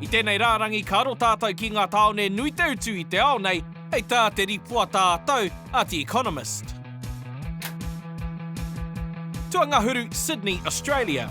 I tēnei rārangi ka aro tātou ki ngā tāone nui te utu i te ao nei, hei tā te rīpoata ā-tau a The Economist. Tuangahuru, Sydney, Australia.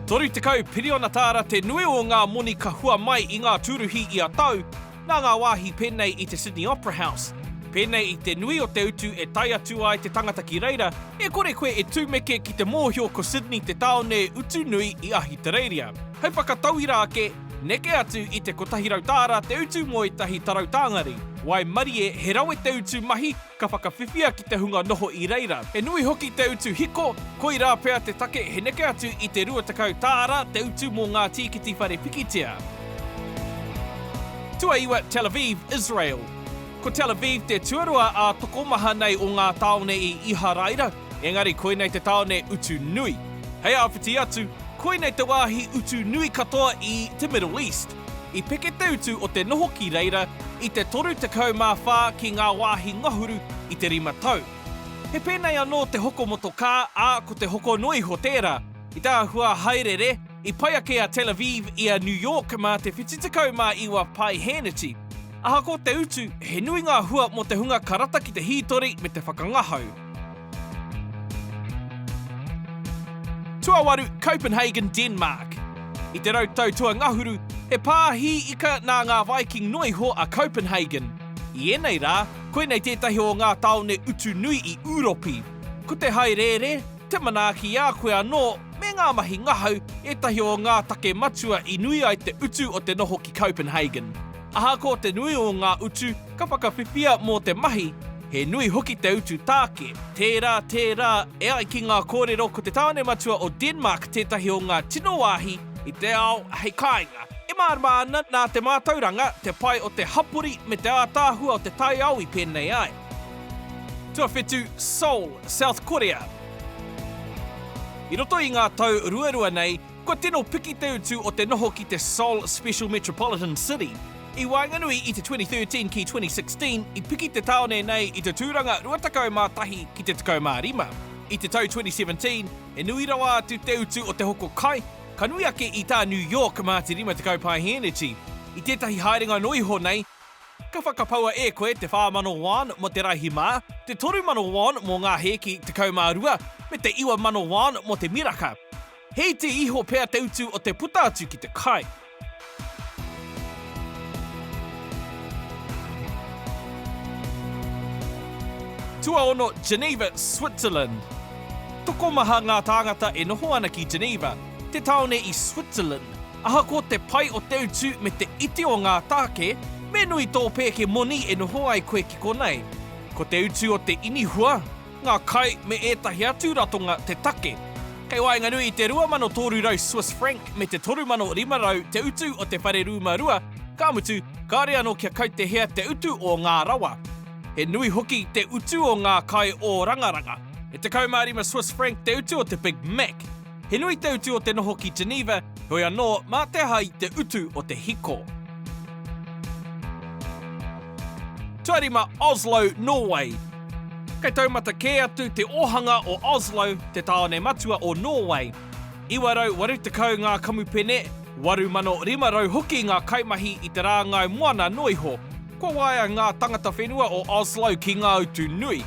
30 piriona tāra te nui o ngā moni ka hua mai i ngā tūruhi ia tau, Nā ngā wāhi pēnei i te Sydney Opera House, pēnei i te nui o te utu e tae atu ai te tangata ki reira, e kore koe e tumeke ki te mōhio ko Sydney te tāone utu nui i Ahitereiria. Hei whakatauira ake, neke atu i te 100 tāra te utu mō ētahi tarau tāngari, waimarie he rawe te utu mahi Ka whakawhiwhia ki te hunga noho i reira. He nui hoki te utu hiko, koirā pea te take he neke atu i te 20 tāra te utu mō ngā tīkiti whare pikitia. Tuaiwa, Tel Aviv, Israel Ko Tel Aviv te tuarua ā-tokomaha nei o ngā tāone i Iharaira, engari koinei te tāone utu nui. Hei āwhiti atu, koinei te wāhi utu nui katoa i te Middle East. I peke te utu o te noho ki reira i te 34 ki ngā wāhi ngahuru i te rima tau. He pēnei anō te hoko motokā, ā, ko te hoko noa iho tērā. I te āhua hāereere, i pai ake a Tel Aviv i a New York mā te 79 pae hēneti. Ahakoa te utu, he nui ngā hua mō te hunga ka rata ki te hītori me te whakangahau. Tuawaru, Copenhagen, Denmark. I te rau tau tua ngahuru, he pā hī ika nā ngā Viking noa iho a Copenhagen. I ēnei rā, koinei tētahi o ngā tāone utu nui i Ūropi. Ko te haereere, te manaaki i a koe anō, me ngā mahi ngahau, ētahi o ngā take matua i nui ai te utu o te noho ki Copenhagen. Ahakoa te nui o ngā utu ka whakawhiwhia mō te mahi, he nui hoki te utu tāke. Tērā, tērā, e ai ki ngā kōrero ko te tāone matua o Denmark tētahi o ngā tino wāhi i te ao hei kāinga. E mārama ana nā te mātauranga, te pai o te hapori me te ātaahua o te taiao i pēnei ai. Tuawhitu, Seoul, South Korea. I roto i ngā tau ruarua nei, Kua tino piki te utu o te noho ki te Seoul Special Metropolitan City. I waenganui i te 2013 ki 2016, i piki te tāone nei i te tūranga 21 ki te 15. I te tau 2017, he nui rawa atu te utu o te hoko kai, ka nui ake i tā New York mā te 50 paeheneti. I tētahi haerenga noa iho nei, ka whakapaua e koe te 4,000 won mō te raihi mā, te 3,000 won mō ngā hēki 12, me te 9,000 won mō te miraka. He iti iho pea te utu o te puta atu ki te kai. Tuaono, Geneva, Switzerland. Tokomaha ngā tāngata e noho ana ki Geneva, te tāone i Switzerland. Ahakoa te pai o te utu me te iti o ngā tāke, me nui tō pēke moni e noho ai koe ki konei. Ko te utu o te inihua, ngā kai me ētahi atu ratonga te take. Kei waenganui i te 2,300 Swiss franc me te 3,500 te utu o te whare rūma rua, ka mutu, kāore anō kia kautehea te utu o ngā rawa. He nui hoki te utu o ngā kai ōrangaranga. E 15 Swiss franc te utu o te Big Mac. He nui te utu o te noho ki Geneva, heoi anō, mā te aha i te utu o te hiko? Tuari mā Oslo, Nōwei. Kei taumata kē atu te ōhanga o Oslo, te tāone matua o Nōwei. 980 ngā kamupene, 8,500 hoki ngā kaimahi i te rāngai moana noa iho. Kua waea ngā tangata whenua o Oslo ki ngā utu nui.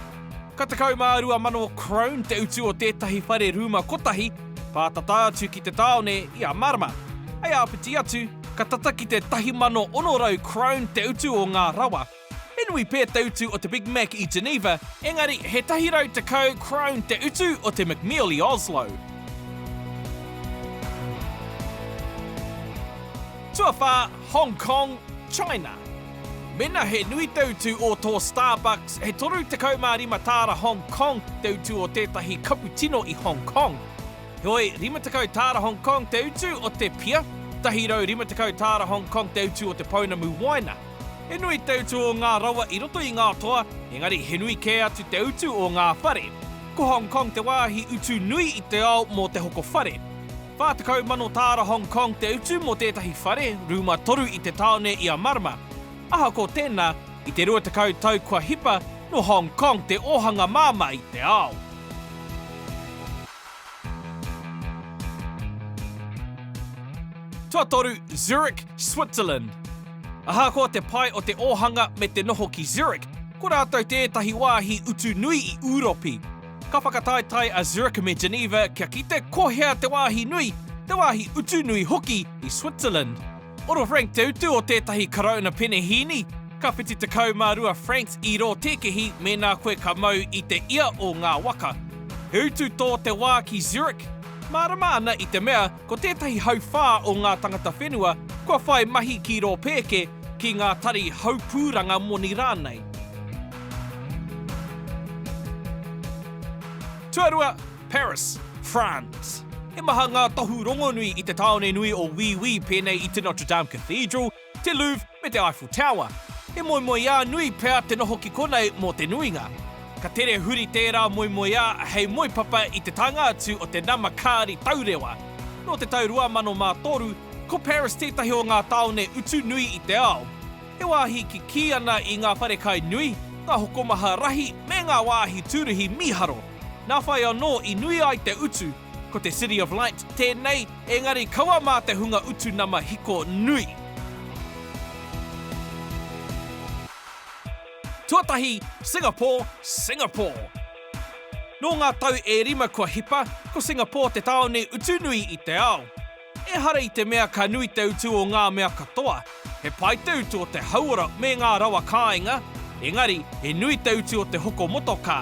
Ka 12,000 krone te utu o tētahi whare rūma kotahi, pātata atu ki te tāone i a Marama. Hei āpiti atu, ka tata ki te 1,600 krone te utu o ngā rawa. He nui pea te utu o te Big Mac i Geneva, engari he 110 krone te utu o te McMeal i Oslo. Tuawhā, Hong Kong, China. Mena he nui te utu o tō Starbucks, he 35 tāra Hong Kong te utu o tētahi kapu tino i Hong Kong. Heoi, 50 tāra Hong Kong te utu o te pia, 150 tāra Hong Kong te utu o te pounamu waina. He nui te utu o ngā rawa i roto i ngā toa, engari he nui kē atu te utu o ngā whare. Ko Hong Kong te wāhi utu nui i te ao mō te hoko whare. 40 mano tāra Hong Kong te utu mō tētahi whare, rūma toru i te tāone i a Marama. Ahakoa tēnā, i te rua tekau tau kua hipa, nō Hong Kong te ōhanga māmā i te ao. Tuatoru, Zurich, Switzerland. Ahakoa te pai o te ōhanga me te noho ki Zurich, ko rātou tētahi wāhi utu nui i Ūropi. Ka whakataetae a Zurich me Geneva kia kite ko hea te wāhi nui, te wāhi utu nui hoki i Switzerland. Oro franc te utu o tētahi Karauna penehīni, ka whiti tekau mā rua francs i rō tēkehi mēnā koe ka mau i te ia o ngā waka. He utu tō te wā ki Zurich, mārama ana i te mea ko tētahi hauwhā o ngā tangata whenua kua whai mahi ki rō pēke, ki ngā tari haupūranga moni rānei. Tuarua, Paris, France. He maha ngā tohu rongonui i te tāone nui o Wī Wī pēnei i te Notre Dame Cathedral, te Louvre me te Eiffel Tower. He moemoeā nui pea te noho ki konei mō te nuinga. Ka tere huri tērā moemoeā hei moepapa i te taenga atu o te nama kāri taurewa. Nō te tau 2003, ko Paris tētahi o ngā tāone utu nui i te ao. He wāhi kikī ana i ngā wharekai nui, ngā hokomaha rahi me ngā wāhi tūruhi mīharo. Nā whai anō i nui ai te utu, ko te City of Light tēnei engari kaua mā te hunga utu nama hiko nui. Tuatahi, Singapore, Singapore. Nō ngā tau e rima kua hipa, ko Singapore te tāone utu nui i te ao. Ehara i te mea ka nui te utu o ngā mea katoa, he pai te utu o te hauora me ngā rawa kāinga, engari he nui te utu o te hoko motokā.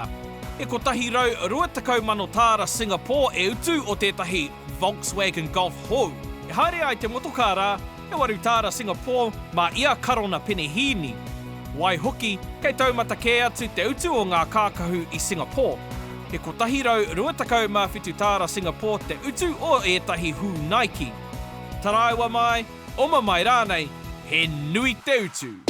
He 120,000 tāra Singapore e utu o tētahi Volkswagen Golf hou. E haere ai te motokā rā, he waru tāra Singapore mā ia karona penehīni. Waihoki, kei taumata kē atu te utu o ngā kākahu i Singapore. He 127 tāra Singapore te utu o ētahi hū Nike. Taraiwa mai, oma mai rānei, he nui te utu.